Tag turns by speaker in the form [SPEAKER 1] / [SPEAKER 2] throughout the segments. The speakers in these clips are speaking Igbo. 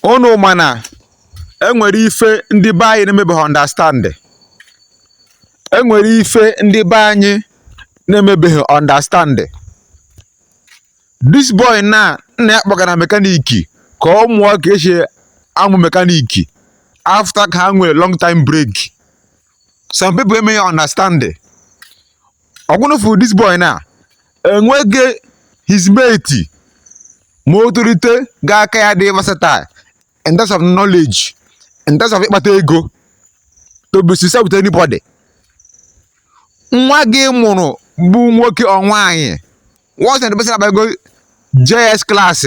[SPEAKER 1] Ụnụ ma na e nwere ife ndị be anyị na-emebeghị understand. E nwere ife ndị be anyị na-emebeghị understand. This boy naa nna ya kpọgara mechanic ka ọ mụọ ka e si amụ mechanic after ka ha nwere long term break. some people eme ya understand ọ bụ ụnụ fụrụ this boy na enweghị his mate ma o tolite ga-aka ya dị versatile in terms of knowledge in terms of ịkpata ego to be successful with anybody nwa gị mụrụ bụ nwoke or nwaanyị once that person abago JS class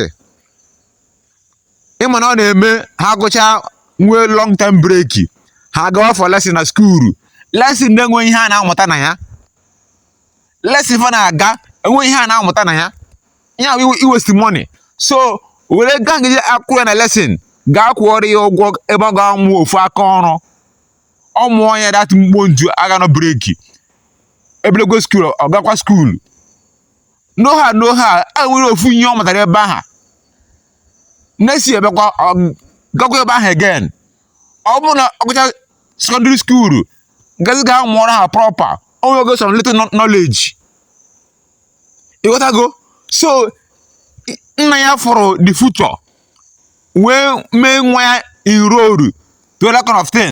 [SPEAKER 1] ị ma na ọ na-eme ha gụcha nwee long term break ha gawa for lesson na skuulu lesson na-enweghị ihe a na-amụta na ya lesson fa na-aga enweghị ihe a na-amụta na ya ya bụ iwesti money so were ego ahụ ị ji akwụ ụgwọ ya na lesson gaa kwụọrọ ya ụgwọ ebe ọ ga-amụ ofu aka ọrụ ọ mụọ ya that mkpo nju a ga-anọ break e bidokwa skuulu ọ gakwa skuulu n'ohe a n'ohe a o nwere ofu ihe ọ matara ebe aha next break ọ gakwa ebe ahụ again ọ bụrụ na ọ gụcha secondary skuulu gazie gaa mụọ ọrụ ahụ proper o nwego some little knowledge ị ghọtago so nna ya fụrụ the future wee mee nwa ya enrol to that kind of thing